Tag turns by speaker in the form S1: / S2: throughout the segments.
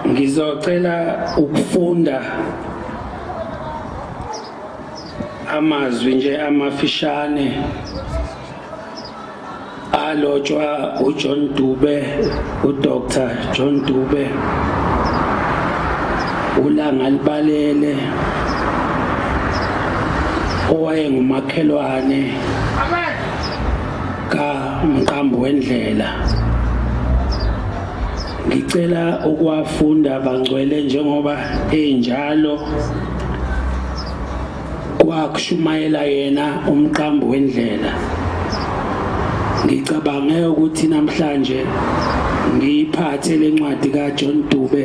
S1: ngizocela ukufunda amazwi nje amafishane alotshwa uJohn Dube uDr John Dube ulanga libalele owayengumakhelwane ka umqambi wendlela ngicela ukuwafunda bangcwele njengoba enjalo kwakushumayela yena umqambi wendlela ngicabange ukuthi namhlanje ngiyiphathe lencwadi kaJohn Dube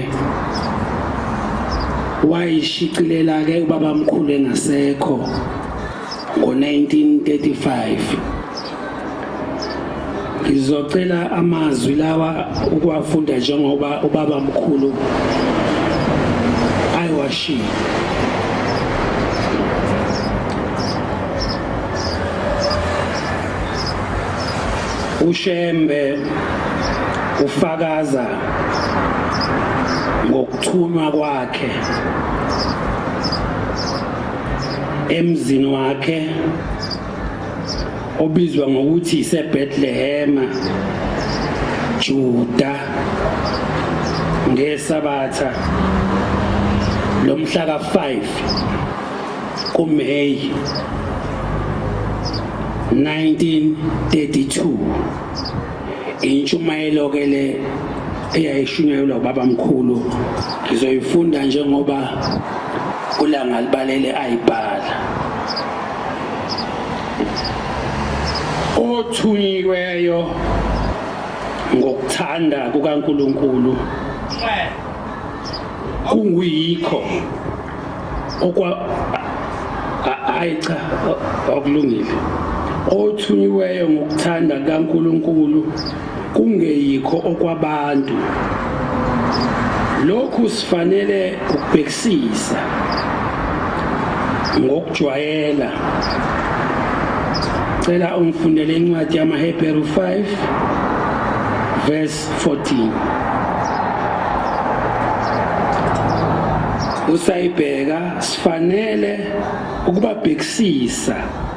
S1: wayishicilela ke ubabamkhulu engasekho ngo-1935 ngizocela amazwi lawa ukuwafunda njengoba ubaba mkhulu ayiwashiye ushembe ufakaza ngokuthunywa kwakhe emzini wakhe obizwa ngokuthi iseBethlehema Juda ngesabatha lomhla ka-5 kuMay 1932 intshumayelo ke le eyayishunyayelwa ubaba mkhulu ngizoyifunda njengoba ulanga libalele ayibhala othunyiweyo ngokuthanda kukaNkuluNkulu kuyikho okwa hayi cha akulungile othunyiweyo ngokuthanda kaNkuluNkulu kungeyikho okwabantu lokhu sifanele ukubhekisisa ngokujwayela cela ungifundele incwadi yamaHebheru 5 verse 14 usayibheka sifanele ukubabhekisisa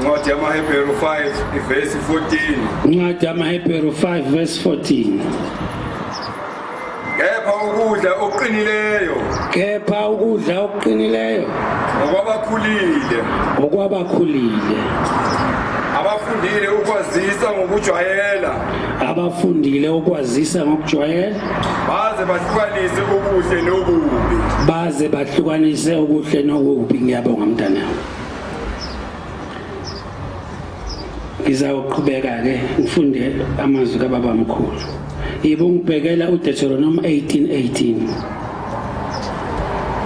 S2: Incwadi yamaHebheru 5 ivesi 14. Incwadi yamaHebheru
S1: 5 verse 14.
S2: Kepha ukudla okuqinileyo. Kepha
S1: ukudla okuqinileyo. Ngokwabakhulile. Ngokwabakhulile.
S2: Abafundile ukwazisa ngokujwayela. Abafundile
S1: ukwazisa ngokujwayela. Baze
S2: bahlukanise okuhle nokubi. Baze
S1: bahlukanise okuhle nokubi ngiyabonga mntanami. ngizawuqhubeka ke ngifunde amazwi kababa mkhulu yibo ngibhekela uDeuteronomy 18:18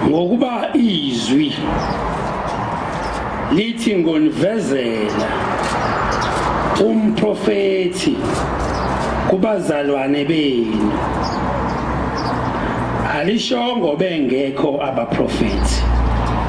S1: ngokuba izwi lithi ngonivezela umprofeti kubazalwane benu alishongo bengekho abaprofeti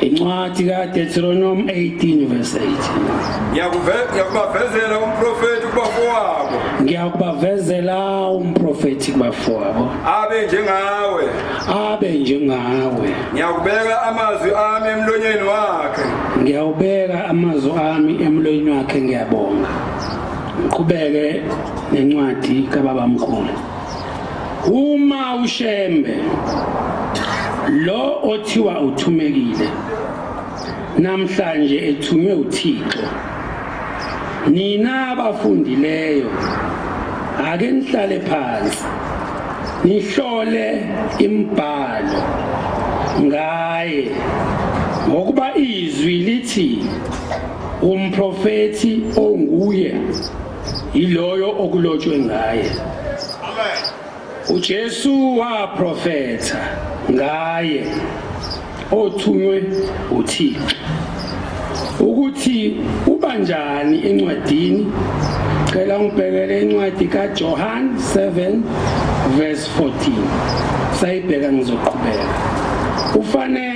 S2: Incwadi
S1: kaDeuteronomi 18 verse 8. Ngiyakubavezela
S2: umprofeti kubafowabo. Ngiyakubavezela
S1: umprofeti kubafowabo. Abe njengawe.
S2: Abe njengawe. Ngiyakubeka amazwi ami emlonyeni wakhe. Ngiyawubeka
S1: amazwi ami emlonyeni wakhe ngiyabonga. Ngiqhubeke nencwadi kababamkhulu. Uma uShembe lo othiwa uthumekile namhlanje ethunywe uThixo nina abafundileyo ake nihlale phansi nihlole imbhalo ngaye ngokuba izwi lithi umprofethi onguye yiloyo okulotshwe ngaye uJesu waprofetha ngaye othunywe uThixo ukuthi ubanjani encwadini cela ngibhekele incwadi kaJohn 7 verse 14 sayibheka ngizoqhubeka ufanele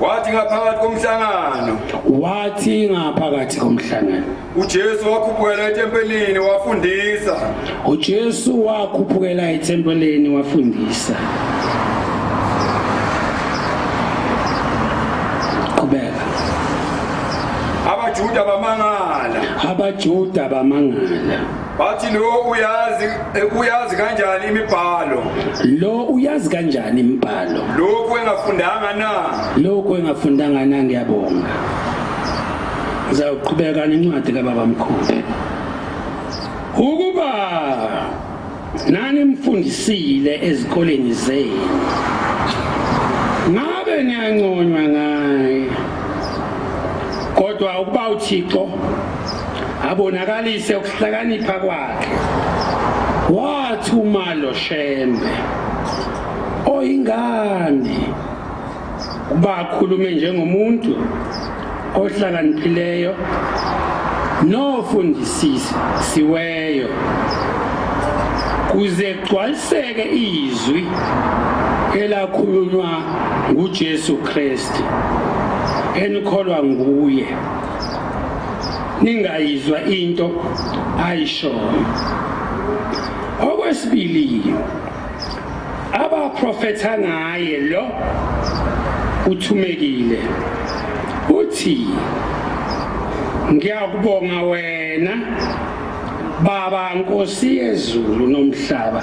S1: Wathi
S2: ngaphakathi komhlangano.
S1: Wathi ngaphakathi komhlangano. UJesu
S2: wakhuphukela etempelini wafundisa. UJesu
S1: wakhuphukela etempelini wafundisa. Qhubeka. Abajuda bamangala. Abajuda bamangala. Bathi lo
S2: uyazi eh, uyazi kanjani imibhalo? Lo uyazi
S1: kanjani imibhalo? Lokhu engafundanga na? Lokhu engafundanga na ngiyabonga. Ngizawuqhubeka nencwadi kababa mkhulu. Ukuba nani mfundisile ezikoleni zenu. Ngabe niyanconywa ngaye. Kodwa ukuba uThixo abonakalise ukuhlakanipha kwakhe wathi umalo shembe oyingane bakhulume njengomuntu ohlakaniphileyo nofundisisi siweyo kuze kugcwaliseke izwi elakhulunywa nguJesu Kristu enikholwa nguye ningayizwa into ayishoyo okwesibili abaprofetha ngaye lo uthumekile uthi ngiyakubonga wena baba nkosi yezulu nomhlaba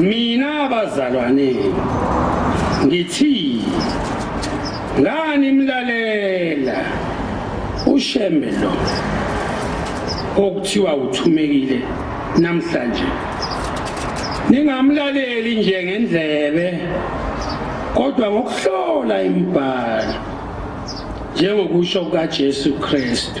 S1: mina bazalwane ngithi ngani mlalela ushembe lo okuthiwa uthumekile namhlanje ningamlaleli nje ngendlebe kodwa ngokuhlola imibhalo njengokusho kukaJesu Kristu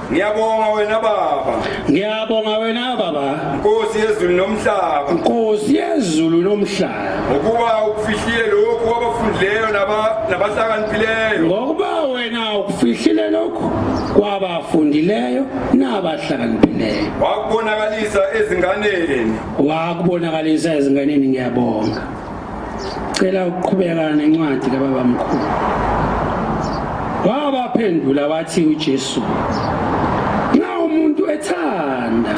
S2: Ngiyabonga wena baba. Ngiyabonga wena baba. Nkosi yezulu nomhlaba. Nkosi yezulu nomhlaba. Ngokuba ukufihlile lokhu kwabafundileyo naba nabahlakaniphileyo. Ngokuba wena ukufihlile lokhu kwabafundileyo nabahlakaniphileyo. Wakubonakalisa ezinganeni. Wakubonakalisa ezinganeni ngiyabonga. Cela ukuqhubeka nencwadi kababa mkhulu. Wabaphendula wathi uJesu Nxa umuntu ethanda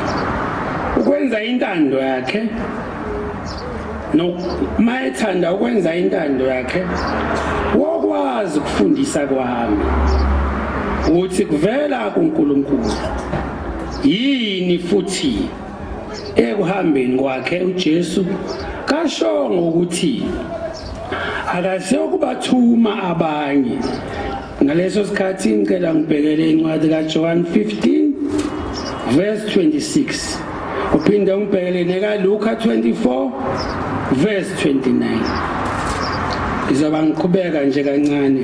S2: ukwenza intando yakhe noma ethanda ukwenza intando yakhe wokwazi ukufundisa kwami ukuthi kuvela kuNkulunkulu yini futhi Ekuhambeni kwakhe uJesu kashongo ukuthi akaze ukubathuma abanye. Ngaleso sikhathi ngicela ngibhekele incwadi kaJohn 15 verse 26. Uphinde umbhekele nekaLuka 24 verse 29.
S1: Izoba ngiqhubeka nje kancane.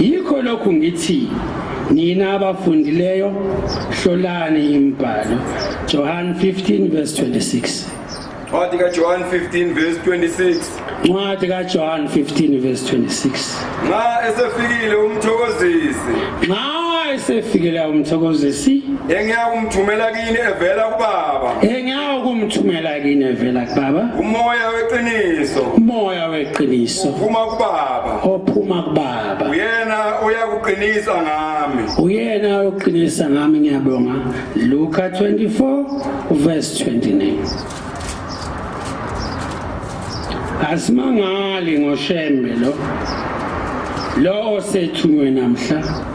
S1: Yikho lokhu ngithi nina abafundileyo hlolani imbhalo Johan 15 verse 26 Ncwadi
S2: kaJohn 15 verse 26 Ncwadi
S1: kaJohn 15 verse 26 Nxa
S2: esefikile umthokozisi Nxa
S1: esefikile umthokozisi engiyakumthumela
S2: kini evela kubaba engiyakumthumela
S1: kini evela kubaba umoya weqiniso
S2: umoya
S1: weqiniso uphuma kubaba
S2: ophuma kubaba
S1: uyena
S2: uyakuqinisa ngami uyena
S1: uyoqinisa ngami ngiyabonga Luka 24 verse 29 Asimangali ngoshembe lo lo osethunywe namhla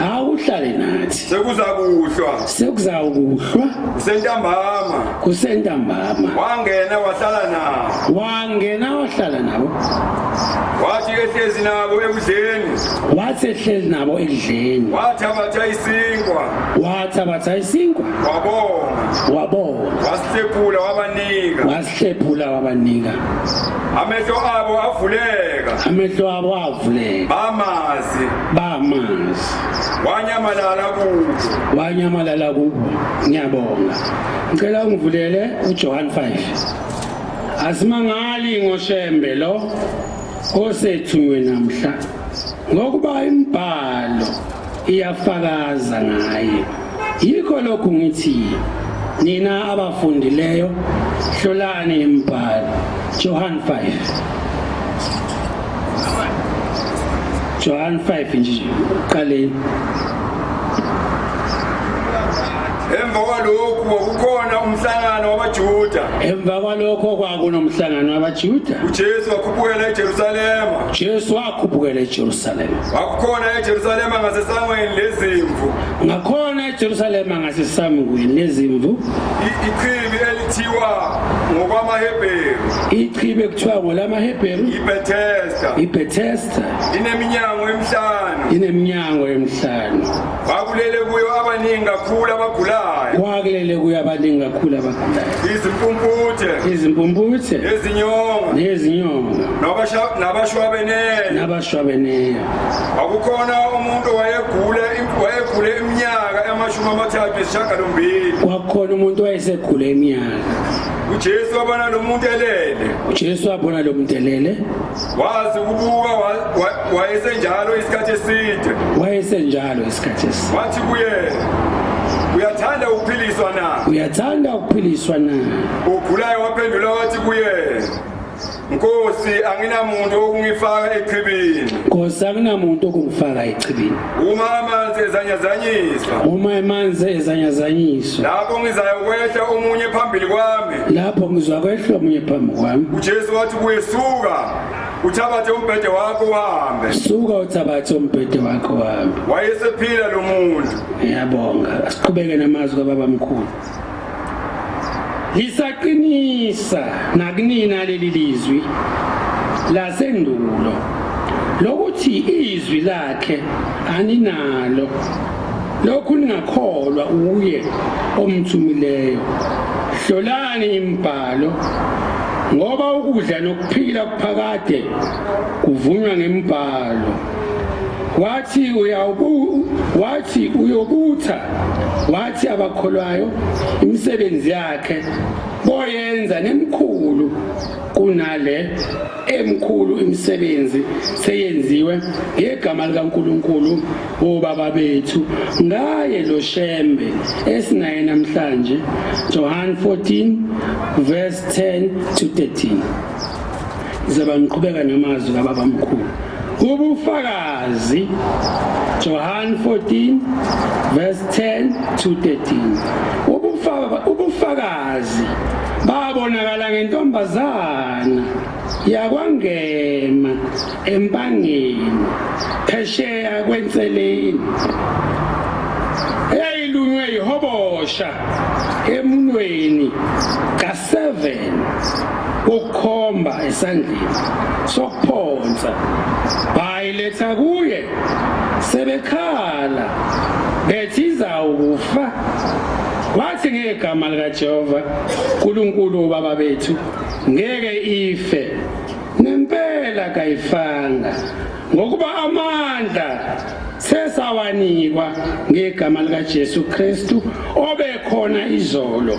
S2: awuhlale
S1: nathi sekuzakuhlwa
S2: sekuzawukuhlwa
S1: kusentambama kusentambama wangena wahlala
S2: nabo wangena wahlala nabo wathi ehlezi nabo ekudleni wathi ehlezi nabo ekudleni wathabatha isinkwa wathabatha isinkwa wabonga wabonga wasihlephula wabanika wasihlephula wabanika amehlo abo avuleka amehlo abo avuleka bamazi bamanzi wanyamalala kubo wanyamalala kubo ngiyabonga ngicela ungivulele uJohn 5 asimangali ngoshembe lo osethunywe namhla ngokuba imibhalo iyafakaza ngaye Yikho lokhu ngithi nina abafundileyo hlolani imibhalo Johan 5 Johan 5 nje uqaleni Emva kwalokhu kwakukhona umhlangano wabaJuda. Emva kwalokho
S1: kwakunomhlangano wabaJuda. UJesu wakhuphukela
S2: eJerusalema. Jesu wakhuphukela eJerusalema. Wakukhona eJerusalema ngasesangweni lezimvu. ngakhona
S1: ejerusalema ngasisamukwe nezimvu ichibi
S2: elithiwa ngokwamahebheru ichibi
S1: ekuthiwa ngolamahebheru ibethesta ibethesta ineminyango emihlanu ineminyango emihlanu kwakulele
S2: kuyo abaningi kakhulu abagulayo kwakulele kuyo abaningi kakhulu abagulayo
S1: izimpumputhe izimpumputhe nezinyonga nezinyonga nabashwabenene shwabeneyo akukhona
S2: umuntu wayegule wayegule iminyaka amashumi amathathu esishagalombili kwakukhona
S1: umuntu wayesegule iminyaka ujesu
S2: wabona lo muntu elele ujesu wabona lo muntu elele wazi ukubuka wayesenjalo isikhathi eside wayesenjalo isikhathi eside wathi kuye uyathanda ukuphiliswa na uyathanda ukuphiliswa na ugulayo waphendula wathi kuye Nkosi anginamuntu okungifaka echibini. Nkosi anginamuntu okungifaka echibini. Uma amanzi ezanyazanyiswa. Uma amanzi ezanyazanyiswa. Lapho ngizaya kwehla omunye phambili kwami. Lapho ngizwa kwehla omunye phambi kwami. UJesu wathi kuyesuka uthabathe umbhede wakho uhambe suka uthabathe umbhede wakho uhambe wayesephila lo muntu ngiyabonga
S1: asiqhubeke namazwi kababa mkhulu Lisaqinisa nakunina leli lizwi lasendulo lokuthi izwi lakhe aninalo lokhu ningakholwa uye omthumileyo hlolani imibhalo ngoba ukudla nokuphila kuphakade kuvunywa ngembhalo wathi uyawubu wathi uyobutha wathi abakholwayo imisebenzi yakhe boyenza nemkhulu kunale emkhulu imisebenzi seyenziwe ngegama likaNkuluNkulu wobaba bethu ngaye lo shembe esinaye namhlanje Johan 14 verse 10 to 13 Ngizoba ngiqhubeka namazwi kababa mkhulu. Ubufakazi Johan 14 verse 10 to 13. Ubufakazi ubufakazi babonakala ngentombazana yakwangema empangeni phesheya kwenseleni eyayilunywe yihobosha emunweni 7 kokukhomba esandleni sokuphonsa bayiletha kuye sebekhala bethi izawukufa wathi ngegama likaJehova uNkulunkulu ubaba bethu ngeke ife nempela kayifanga ngokuba amandla sesawanikwa ngegama likaJesu Kristu obekhona izolo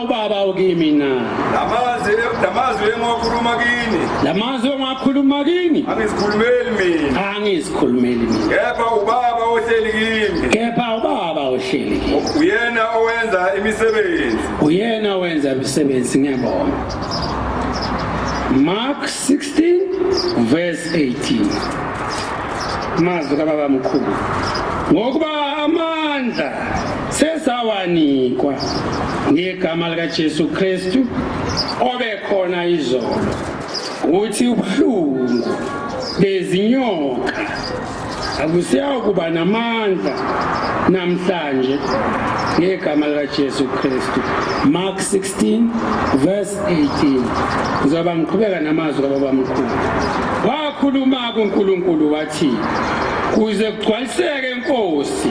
S2: ubaba ukimi na lamazwi
S1: lamazwi engiwakhuluma
S2: kini lamazwi engiwakhuluma
S1: kini angizikhulumeli mina angizikhulumeli mina kepha ubaba
S2: ohleli kimi kepha ubaba
S1: ohleli kimi uyena owenza
S2: imisebenzi uyena owenza
S1: imisebenzi ngiyabona Mark 16 verse 18 mazwi kababa mkhulu ngokuba amandla sesawanikwa ngegama likaJesu Kristu obekhona izolo ukuthi ubuhlungu bezinyoka akusiyakuba namandla namhlanje ngegama likaJesu Kristu Mark 16 verse 18 ngizoba ngiqhubeka namazwi kababa mkhulu wakhuluma kuNkulunkulu wathi kuze kugcwaliseke inkosi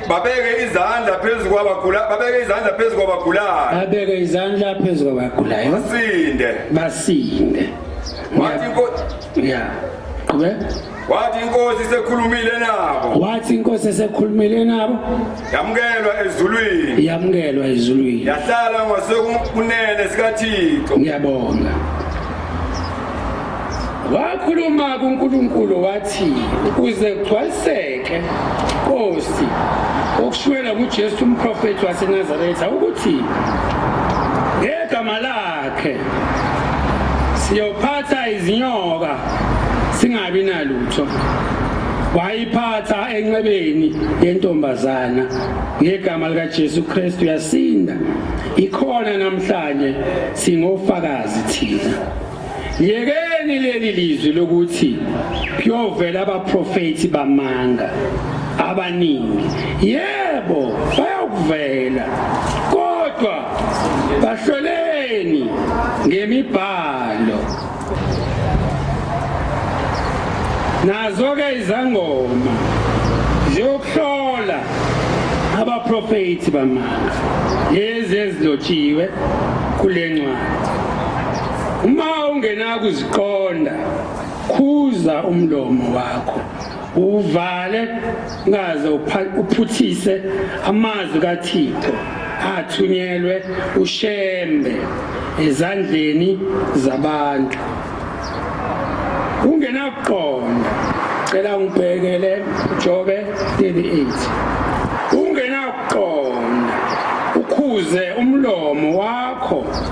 S2: babeke izandla phezu kwabagula babeke izandla phezu kwabagulayo babeke izandla phezu kwabagulayo basinde basinde
S1: wathi inkosi ya
S2: qhubeka wathi inkosi sekhulumile nabo wathi inkosi esekhulumile nabo yamukelwa ezulwini yamukelwa ezulwini yahlala ngasekunene sikaThixo ngiyabonga
S1: wakhuluma kuNkulunkulu wathi ukuze kugcwaliseke Nkosi okushuwela kuJesu umprofeti waseNazaretha ukuthi ngegama lakhe siyophatha izinyoka singabi nalutho wayiphatha enxebeni yentombazana ngegama likaJesu Kristu yasinda ikhona namhlanje singofakazi thina Yekeni leli lizwi lokuthi kuyovela abaprofeti bamanga abaningi. Yebo, bayokuvela. Kodwa bahloleni ngemibhalo. Nazo ke izangoma ziyokuhlola abaprofeti bamanga lezi ezilotshiwe kule ncwadi. Uma ungenakuziqonda, khuza umlomo wakho uvale ngaze uphuthise amazwi kaThixo athunyelwe uShembe ezandleni zabantu. Ungenakuqonda, cela ngibhekele Jobe 38. Ungenakuqonda, ukhuze umlomo wakho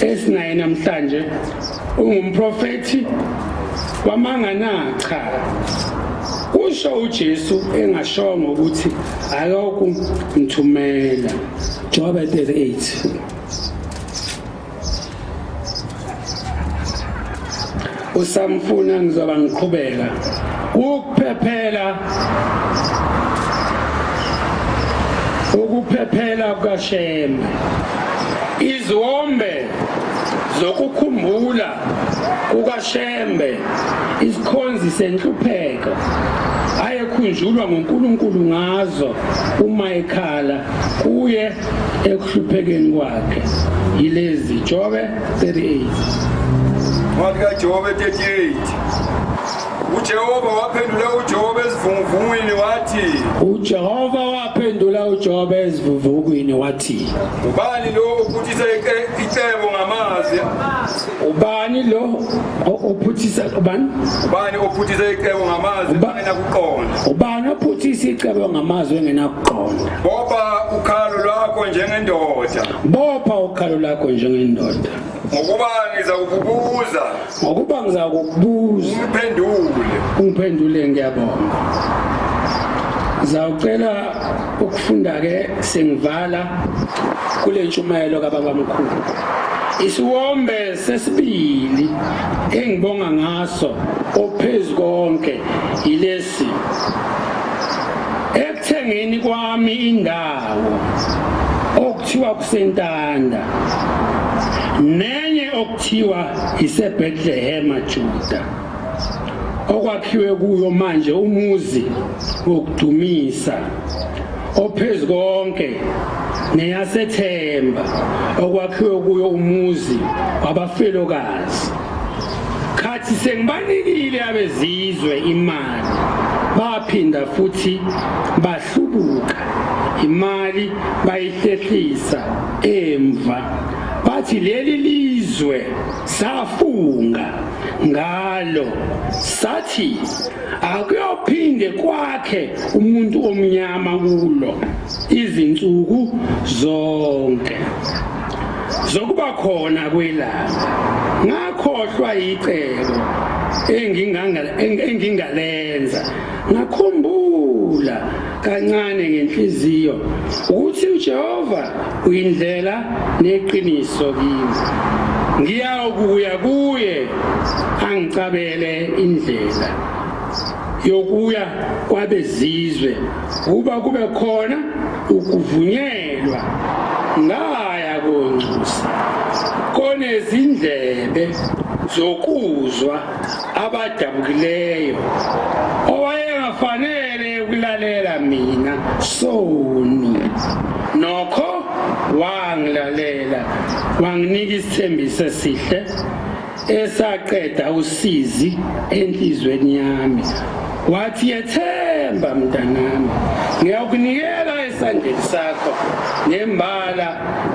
S1: esinaye namhlanje ungumprofethi wamanga na cha kusho uJesu engashongo ukuthi ayoku mthumela Job 38 usamfuna ngizoba ngiqhubeka ukuphephela ukuphephela kukashembe iziwombe zokukhumbula kukashembe isikhonzi senhlupheko ayekhunjulwa nguNkulunkulu ngazo uma ekhala kuye ekuhluphekeni kwakhe yilezi jobe 38 Incwadi
S2: kaJobe 38 uJehova waphendula uJobe ezivunguvungwini wathi uJehova
S1: waphendula uJobe ezivuvukini wathi ubani lo
S2: ophuthisa ice- icebo ngamazwi ubani
S1: lo o- ophuthisa ubani ubani ophuthisa icebo ngamazwi Uba- engenakuqonda ubani ophuthisa
S3: icebo ngamazwi engenakuqonda boba
S2: ukhalo lwakho njengendoda Bopha ukhalo lakho njengendoda. Ngokuba ngizakubuza. Ngokuba ngizakubuza. Ungiphendule.
S1: Ungiphendule ngiyabonga. Zawucela ukufunda ke sengivala kule ntshumayelo kababa mkhulu. Isiwombe sesibili engibonga ngaso ophezulu konke yilesi ekuthengeni kwami indawo awu okuthiwa kusentanda nenye okuthiwa iseBethlehema Juda okwakhiwe kuyo manje umuzi wokudumisa ophezu konke neyasethemba okwakhiwe kuyo umuzi wabafelokazi khathi sengibanikile abezizwe imali baphinda futhi hlubuka imali bayihlehlisa emva bathi leli lizwe safunga ngalo sathi akuyophinde kwakhe umuntu omnyama kulo izinsuku zonke zokuba khona kwelanga ngakhohlwa yicebo engingalenza Ngakhumbula kancane ngenhliziyo ukuthi uJehova uyindlela neqiniso kimi. Ngiyawukuya kuye angicabele indlela yokuya kwabezizwe kuba kube khona ukuvunyelwa ngaya koncusa konezindlebe zokuzwa abadabukileyo owayengafanele ukulalela mina soni nokho wangilalela wanginika isithembiso esihle esaqeda usizi enhlizweni yami Wathi yethemba mntanami ngiyakunikela esandleni sakho nembala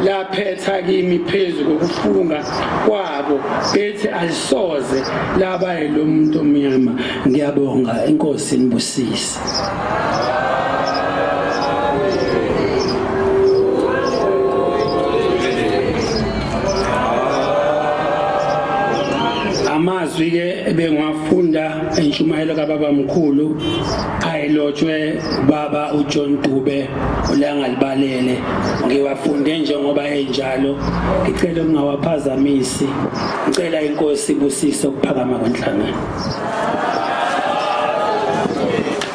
S1: laphetha kimi phezu kokufunga kwabo bethi alisoze laba lo muntu omnyama ngiyabonga inkosi inibusise amazwi-ke ebengiwafunda intshumayelo kababa mkhulu ayilotshwe baba uJohn Dube olangalibalele ngiwafunde njengoba enjalo ngicela ungawaphazamisi ngicela inkosi ibusise ukuphakama kwenhlangano